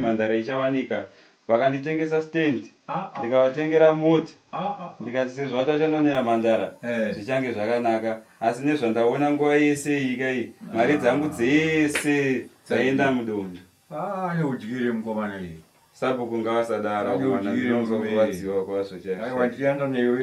Mhandara ichawanika vakanditengesa stand ndikavatengera mota ndikati sezvo vatachanonera mhandara zvichange zvakanaka asi nezvandaona nguva yese iyi kai mari dzangu dzese dzaienda mudonda ane udyire mukomana iyi sabhuku ngavasadaro mwana ndinozokuvadziwa kwazvo chaiaiwa ndiyanda newe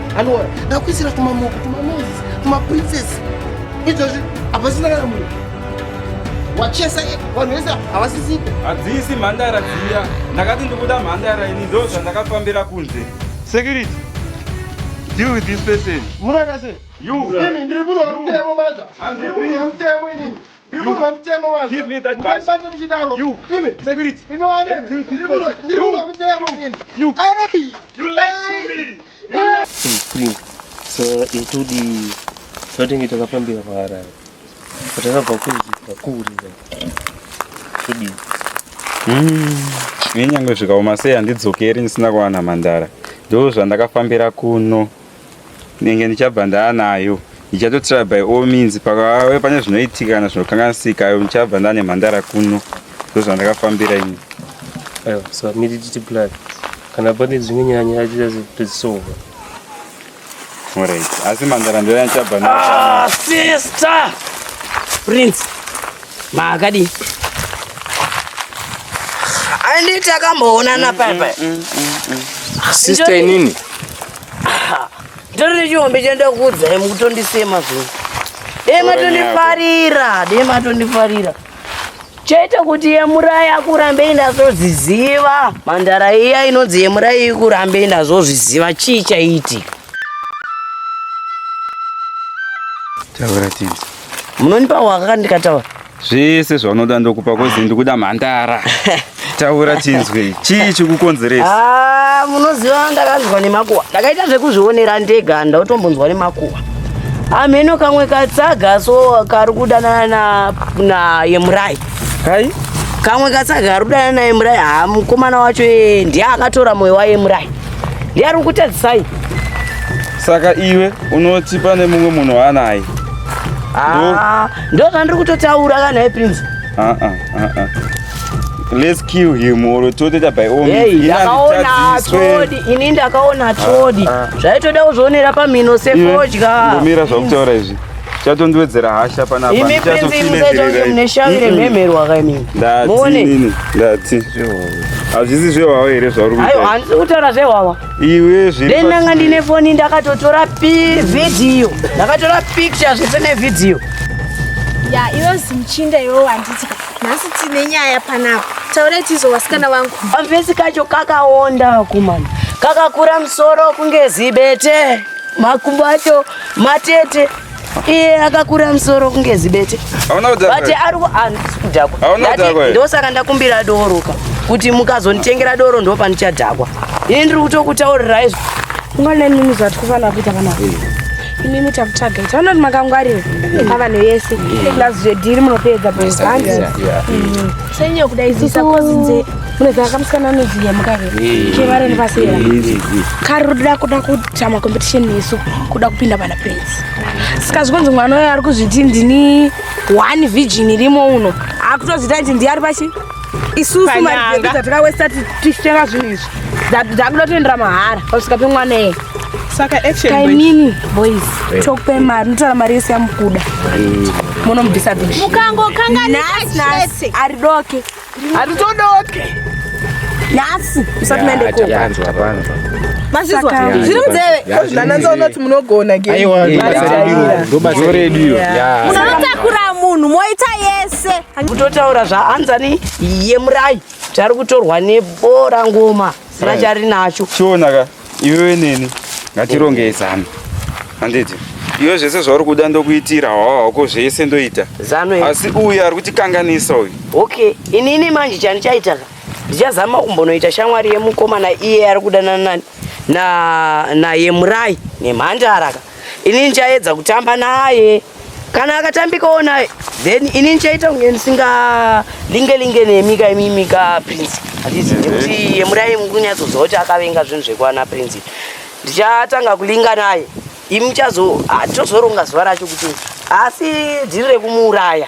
anowara ndakuisira tumamoko tumanozi tumaprincess izvozvi hapasina kana munhu wachesa vanhu vese havasisipo hadzisi mhandara dziya ndakati ndikuda mhandara ini ndo zvandakafambira kunze security deal with this person munakase you ndiri munhu wemutemo maza ndiri munhu wemutemo inini itudi zvatinge takafambira paharare patakabva kuzvika kuri todii nenyangwe hmm, zvikaoma sei handidzokeri ndisina kuwana mhandara ndo zvandakafambira kuno ndenge ndichabva ndaanayo ndichatotira by all means pakave pane zvinoitika kana zvinokanganisika ayo ndichabva ndane mhandara kuno ndozvandakafambira ini aiwa so miri titi plan kana pane dzimwe nyanya achiita todzisova orit asi mhandara ndoya ndichabva na ah, sister prince maakadii anditi akamboonana papa mm, mm, mm, sister inini Ndiri nechihombe chaenda kuudzai mukutondisema zvino. Dei matondifarira, dei matondifarira. Chaita kuti yemurai akurambei ndazozviziva. Mandara iya inonzi yemurai ikurambei ndazozviziva chii chaiti. Taura tizvi. Munonipa waka ndikataura. zvese zvaunoda ndokupa kozi ndikuda mhandara taura chinzwe chii chikukonzeresa ah, munoziva ndakanzwa nemakuwa ndakaita zvekuzvionera ndega ndautombonzwa nemakuwa amheno kamwe katsaga so kari kudanana naye murai kai kamwe katsaga kari kudanana naye murai haa mukomana wacho eh, ndiye akatora moyo waye murai ndiye ari kutadzisai saka iwe unoti pane mumwe munhu waanaye Ah, Ndo zvandiri kutotaura kana hai Prince. Ah ah ah ah. Let's kill him or totoita by all means. Hey, ndakaona Trodi, ini ndakaona ah, Trodi. Ah. Zvaitoda kuzvionera pamhino sefodya. Ndimira zvakutaura izvi. Chatondiwedzera hasha pana apa. Imi Prince musaita mune shavi remhemerwa kaimini. Ndati. Ndati. Hazvisi zvewawa here zvauri kuita? Ayo, handisi kutaura zvewawa. iwe zviri then ndanga ndine foni ndakatotora vhidhiyo ndakatora picture zvese nevhidhiyo ya iwe zimuchinda iwe wanditi nhasi tine nyaya panapa taurai tizo wasikana wangu amvesi kacho kakaonda vakomana kakakura musoro kunge zibete makumbo acho matete iye akakura musoro kunge zibete but ari kudhakwa ndosaka ndakumbira dooroka kuti mukazonditengera doro ndo pandichadhakwa ini ndiri kutokutaurirai izvo ungona imimi zvati kufanira kuita kana imimi takutsvaga ita vanoti makangwarira pavanhu yese plus zvedhiri munopedza bohandi mm. senye kuda izisa kozinze munoziva kamusikana anoziya mukave kevareni pasera kari ruda kuda kuita macompetition nesu kuda kupinda pana prince saka zvikunzi mwana uyo ari kuzviti ndini one virgin irimo uno akutozvita kuti ndiye ari pachi isusu mari dzatakawesta tichitenga zvinhu izvi dzakuda toendera mahara pasvika pemwana eye saka actionkainini boys tokupe mari notora mari yese yamukuda munobvisa dushimukangokanganaa ari doke hatizodoke nhasi usati maende ko mazvizwa zviri munzeve nananza unoti munogona gemunotakura munhu moita yese kutotaura zvaanzani yemurai tari kutorwa nebora ngoma sina charinacho iwewe neni ngatirongei zano handiti iwe zvese zvauri kuda ndokuitira hwahwako zvese ndoita zano asi uyu ari kutikanganisa uyu okay inini manje chandichaita ka ndichazama kumbonoita shamwari yemukomana iye ari kudanana naye murai nemhandara ka inini chaedza kutamba naye kana akatambikawo naye then ini ndichaita kunge ndisinga linge linge nemika imimika prince handizi nekuti yemurai mukunyatsoziva kuti akavenga zvinhu zvekwana prince ndichatanga kulinga naye imi muchazo ah, tozoronga zuva racho kuti asi dhiri rekumuuraya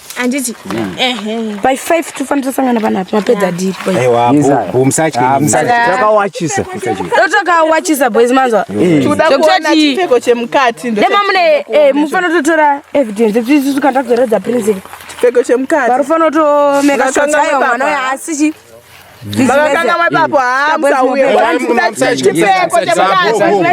handiti hmm. by five tofanira tosangana panapo mapedza diritakawachisa ah, boys manzwa chipfeko chemukati demamune eh, mufanira totora evidence ekuti isu tikanda kuzoredza principle chipfeko chemukati varufanotomeka shots ayo mwana uyo asi vakakanga mwepapo hamusauye chipeko chemudazvo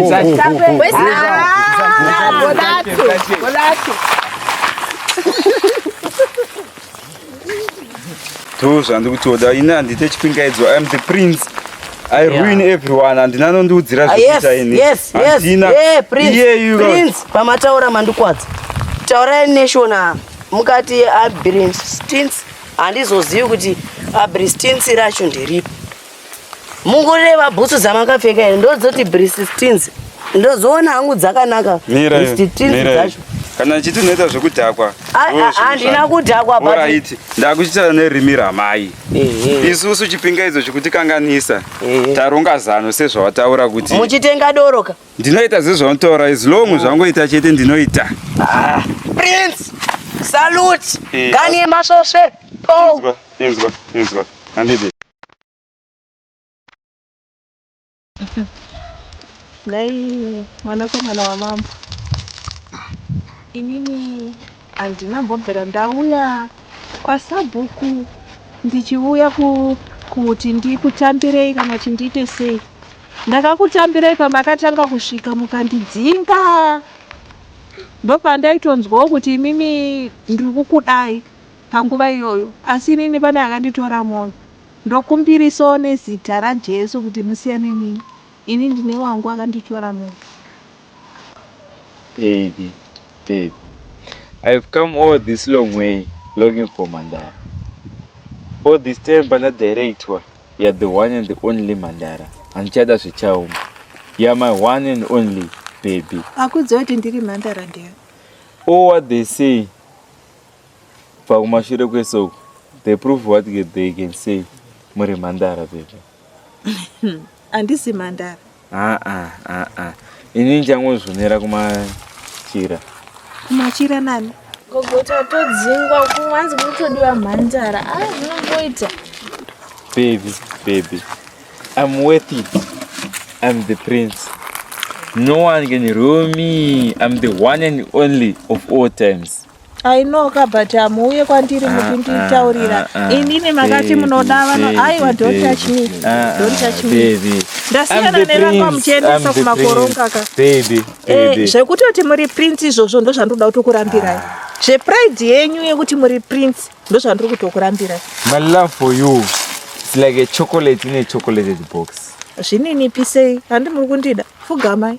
to zvandiri kutoda ini handite chipingaidzo iam the prince i ruin everyone handina anondiudzira ah, zvekuita iniiyeyu pamataura mandikwadza taurai neshona mukati abrinstins handizozivi kuti abristins racho nderipi mungureva bhutsu dzamakapfeka here ndodzoti bristins ndozoona hangu dzakanaka bristins dzacho kana ndichiti unoita zvekudhakwa handina kudhakwa but ndakuchitaura nerimi ramai isusu chipingaidzo chikuti kanganisa taronga zano sezvawataura kuti muchitenga doroka Ndinoita zvezvaunotaura as long oh. zvangoita chete ndinoita. Ah, Prince, salute. Eh, Gani yemasvosve. Inzwa, inzwa, inzwa. Handidi. Dai mwanakomana wamambo. Inini Handina mbombera ndauya kwasabhuku ndichiuya kuti ndikutambirei kana kuti ndiite sei. Ndakakutambirei pamakatanga kusvika mukandidzinga. Ndopandaitonzwawo kuti imimi ndiri kukudai panguva iyoyo asi inini pane akanditora mwoyo. Ndokumbirisawo nezita raJesu kuti musiyane neni. Ini ndine wangu akanditora mwoyo. Baby, baby, I've come all this long way longing for Mandara. All this time pana director, you're the one and the only Mandara. Handichada zvichauma. You're my one and only baby. Akuudza kuti ndiri Mandara ndiyo. All what they say pakumashure kwesoko, they prove what they can say muri Mandara baby. Andisi mandara. Ah ah ah ah. Ini ndichangozvonera kumachira. Kumachira nani? Gogo tatodzingwa kuwanzi kutodiwa mhandara. Ah zvinomboita. Baby, baby. I'm worth it. I'm the prince. No one can rule me. I'm the one and only of all times. I know ka but hamuuye kwandiri mukunditaurira inini makati munoda vano aiwa don't touch me don't touch me ndasiyana nevakwa muchiendesa kumakoronga ka eh, zvekutoti muri prince izvozvo ndozvandoda kutokurambirai zvepride yenyu yekuti muri prince ndozvandiri kutokurambirai my love for you it's like a chocolate in a chocolated box zvininipisei handi muri kundida fugamai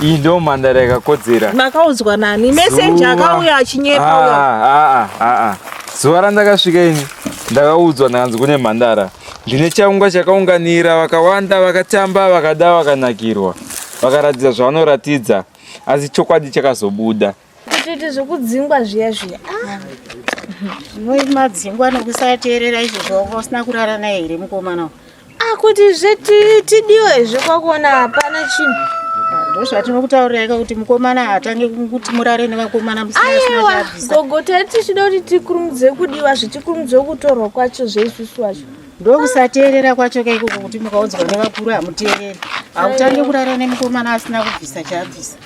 iyi ndo mhandara yakakodzera makaudzwa nani messenger akauya achinyepa ah, ah, ah, zuva randakasvika ini ndakaudzwa ndakanzi kune mhandara ndine chaunga chakaunganira vakawanda vakatamba vakada vakanakirwa vakaratidza zvavanoratidza asi chokwadi chakazobuda Kutiti zvekudzingwa zviya zviya. Ah. Zvinoita madzingwa nokusateerera izvo zvawanga usina kurara naye here mukomana uyu? Ah kuti zveti tidiwe zvekwakuona hapana chinhu. ndozvatinokutauriraika kuti mukomana hatange kuti murare nevakomana aiwa gogo tari tichida kuti tikurumidze kudiwa zvichikurumidze kutorwa kwacho zveisusu wacho ndokusateerera kwacho kaikoko kuti mukaudzwa nevakuru hamuteereri hautange kurara nemukomana asina kubvisa chaabvisa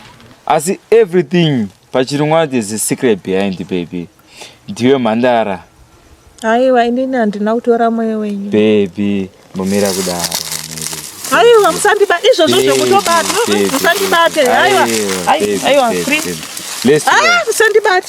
asi everything pachirungu there's a secret behind baby ndiwe mhandara aiwa inini handina kutora mweya wenyu baby mumira kudaro aiwa musandiba izvozvo zvekutobata musandibate aiwa aiwa musandibate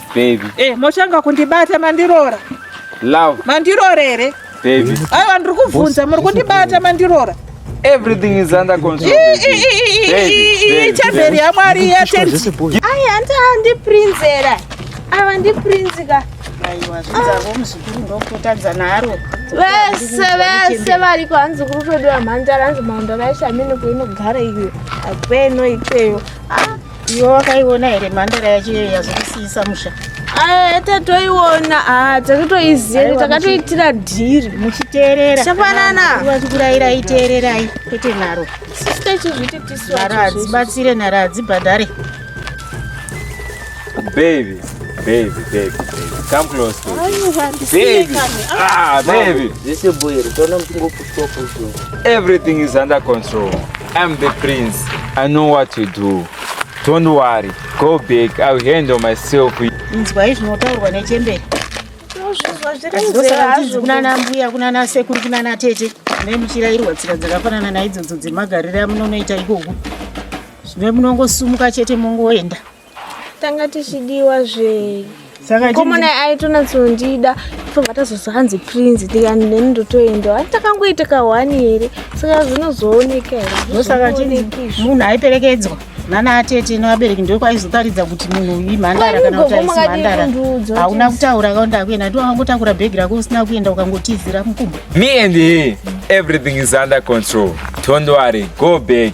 Baby. Eh, mochanga kundibata mandirora. Love. Mandirora here? Baby. Aiwa ndiri kubvunza muri kundibata mandirora. Everything is under control. Chamberi yaMwari yatenzi. Ai hanti handi prince era. Ava ndi prince ka. Aiwa zvinzarwo muzukuru ndokutadza naro. Vese vese variko hanzi kuri kwedu vamhandara hanzi mhandara yeshamini kuinogara iyo. Akweno ikweyo. Ah. Iwe wakaiona here mhandara yacho iyoyo yazokisiisa musha? Ah, tatoiona ah, takatoiziva takatoitira dhiri muchiteerera chafanana vachikurayira iteererai kwete nharo nharo hadzibatsire nharo hadzibhadhare baby baby baby come close to me baby ah baby zvese boyero toona mutingopu Everything is under control. I'm the prince. I know what to do. Don't worry. Go back. I'll handle myself. Inzwai zvinotaurwa nechembere. Ndozvakanzi kunana mbuya kunana sekuru kunana tete nemuchirairwa tsika dzakafanana naidzodzo dzemagariro amunonoita ikoko zvino munongosumuka chete mongoenda tanga tichidiwa zve komona aitonatsondida fobva tazozo hanzi prince ndikani neni ndotoendawo ani takangoita kahwani here saka zvinozooneka here ndosaka chii munhu aiperekedzwa nana atete nevabereki ndokwaizotaridza kuti munhu uyi mhandara kana kuti aisi mhandara hauna kutaura kaonda kuenda ndi wakangotakura bhegi rako usina kuenda ukangotizira mukumbo me and he everything is under control don't worry go back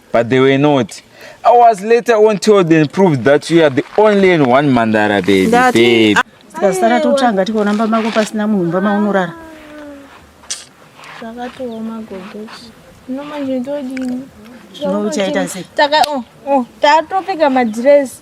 but they were not i was later on told and proved that you are the only and one mandara baby Ndati- baby tikasara totsvanga tikaona mba mako pasina munhu mba maunorara zvakatooma gogochi no manje ndodini Zvino uchaita sei? Taka- oh, oh, tatopfeka madhirezi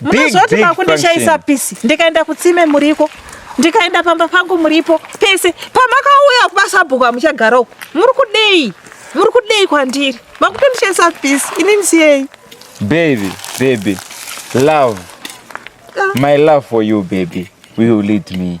Munozwa kuti makundishaisa pisi ndikaenda kutsime muriko ndikaenda pamba pangu muripo pese pamakauya kumasabhuku amuchagara uku muri kudei muri kudei kwandiri makutondishaisa pisi ini ndisiyei baby baby love ah. my love for you baby will lead me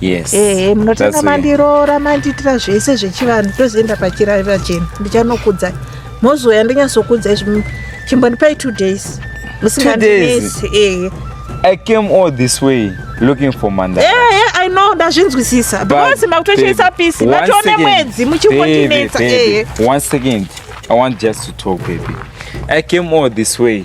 Yes. Eh, munotenga mandiroora mandiitira zvese zvechivanhu tozoenda pachirari pachena ndichanokudza mozouya ndinyatsokudza izvi chimbondipai two days musingandinesi eh. I came all this way looking for Mandara. Yeah, yeah, I know ndazvinzwisisa because makutochesa peace matoone mwedzi muchingondinetsa. One second, I want just to talk baby. I came all this way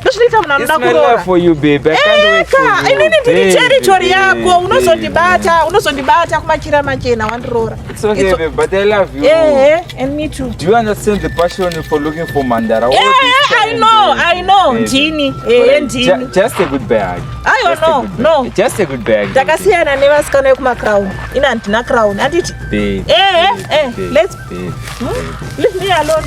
ndozvinoita munhu anoda kuroraeka inini ndiri territory yako unozondibata unozondibata kumachira machena wandiroora ndini ee ndini takasiyana nevasikana vekumacrown ini handina crown handiti ee let's leave me alone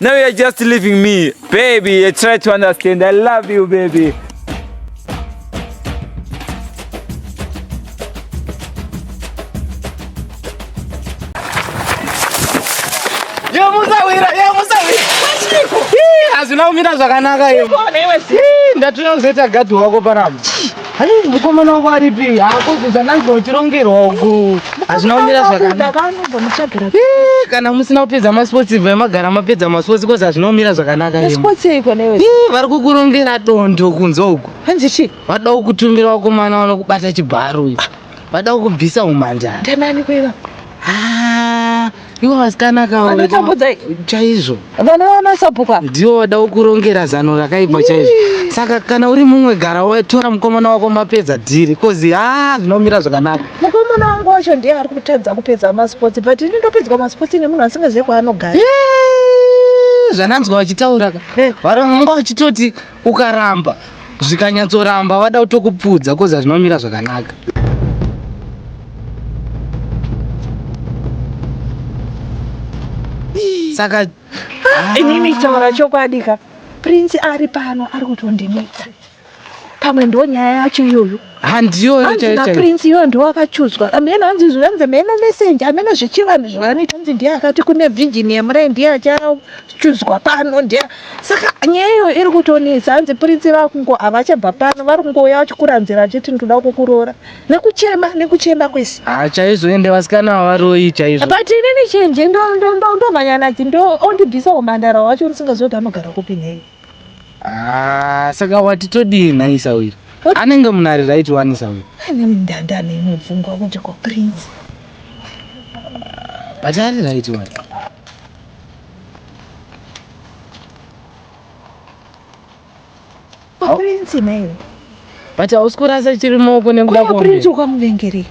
Now you're just leaving me, baby. I try to understand. I love you, baby. hazvina kumira zvakanaka iwe ndatinozoita gadhi wako panapa Hanzi mukomana wangu aripi? Hakuzi zvandanzi uchirongerwa uku. Hazvina kumira zvakanaka. Eh, kana musina kupedza masports ibva magara mapedza masports because hazvina kumira zvakanaka. Masports iko newe. Eh, vari kukurongera dondo kunzwa uku. Hanzi chi? Vada kukutumira wakomana wano kubata chibharo uyu. Vada kukubvisa umhandara. Ndanani kweva? Ah. Ivo vasikana aka vanotambudza chaizvo. Vanoona sapuka. Ndiwo wada kurongera zano rakaipa chaizvo. Saka kana uri mumwe gara watora mukomana wako mapedza dhiri kozi ah zvinomira zvakanaka. Mukomana wangu wacho ndiye ari kutadza kupedza masports but ini ndopedzwa masports nemunhu asingazive kwaanogara. Zvananzwa vachitaura ka. Varanga vachitoti ukaramba zvikanyatsoramba vada kutokupfudza koza zvinomira zvakanaka saka ah, inini taura chokwadi ka prince ari pano ari kutondinetsa pamwe ndo nyaya yacho iyoyo handiyo hanzi prince iyo ndiwo akachudzwa amene hanzi zvanzi meno messenger amene zvechivanhu zvavanoita hanzi ndiye akati kune virgin yemurai ndiye achachudzwa pano ndiye saka nyaya iyo iri kutonetsa hanzi prince vakungo havachabva pano vari kungouya vachikuranzira vachiti ndoda kukuroora nekuchema nekuchema kwese ha ah, chaizvo ende vasikana vavaroi chaizvo but inini chenje ndomhanya nadzo ndo ondibvisa umhandara wacho ndisingaziva kuti anogara kupi nhei Ah, saka wati todii nhai sawiri? Anenge munari right wani sawiri? Ane mndanda ane imwe pfungwa kuti ko prince. But ari right wani? Ko prince naiwe. but hausi kurasa chiri maoko nekuda kwaprince ukamuvengerei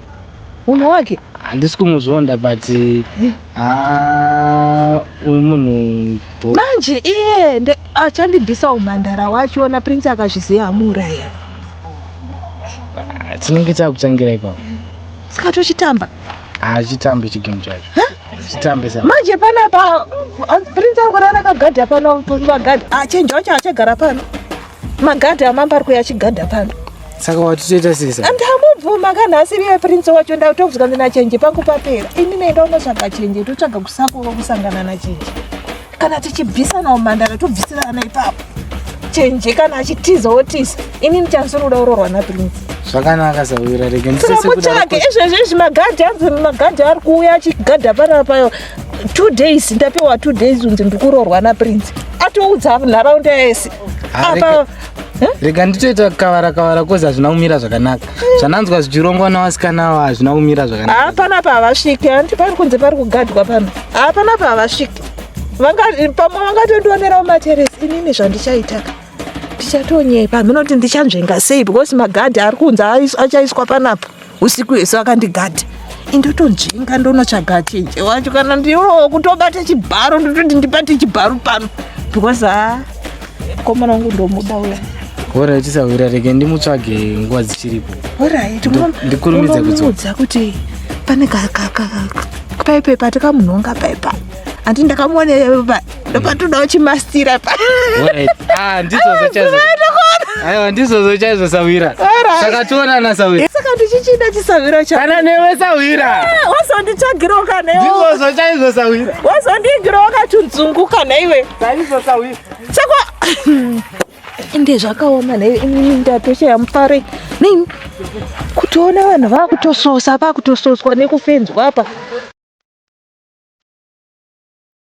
munhu wake handisi kumuzvonda but eh. ah, uyu munhu manje iye achandibvisa umhandara wacho ona prince akazviziva amuuraya ah, tinenge takutangira ipapo saka tochitamba hachitambe chigame chacho manje panapa prince akurara akagadha pano pagada achenja wacho achagara pano Magadha amambo ari kuuya achigadha pano. Saka wati toita sei saka? Ndamubvuma kana asiri iye prince wacho ndakutobvunza kuti nachenje pangu papera. Ini nenda unotsvaga chenje totsvaga kusakova kusangana nachenje. Kana tichibvisanawo mhandara tobvisirana ipapo. Chenje kana achitiza wotiza. Ini ndichazoruda urorwa naprince. zvakanaka sawira rege ndisese kuda tiramutsvage izvezvi izvi magadhi anzi magadhi ari kuuya achigadha panapa two days ndapiwa two days unzi ndikurorwa naprince atoudza nharaunda yese apa rega nditoita kavara kavara kozi hazvina kumira zvakanaka zvananzwa zvichirongwa navasikana avo hazvina kumira zvakanaka hapana pavasviki handi pari kunze pari kugadwa pano hapana pavasviki pamwe vangatondionerawo materesi inini zvandichaitaka ndichatonyepa hamhina kuti ndichanzvenga sei because magadhi ari kunze achaiswa panapa usiku hwese wakandigadha indotonzvenga ndonotsvaga chenje wacho kana ndiwo kutobata chibharo ndototi ndibate chibharo pano because ha komana wangu ndomuda uya horai tisahwira rege ndimutsvage nguva dzichiripo horai ndikurumidze kuzoudza kuti pane paipepa tikamunhonga paipa andi ndakamuone ndopatoda uchimastira ah, aiwa ndizozo chaizvo sawira saka tionana sawira saka ndichichida chisawira cha kana newe sawira ah, wazonditsvagirawo kana iwe ndizozo chaizvo sawira wazondigirawo katunzungu kana iwe chaizvo sawira sako ende zvakaoma naiwe inini ndatoshaya mufare nei kutoona vanhu vakutososa vakutososwa nekufenzwa apa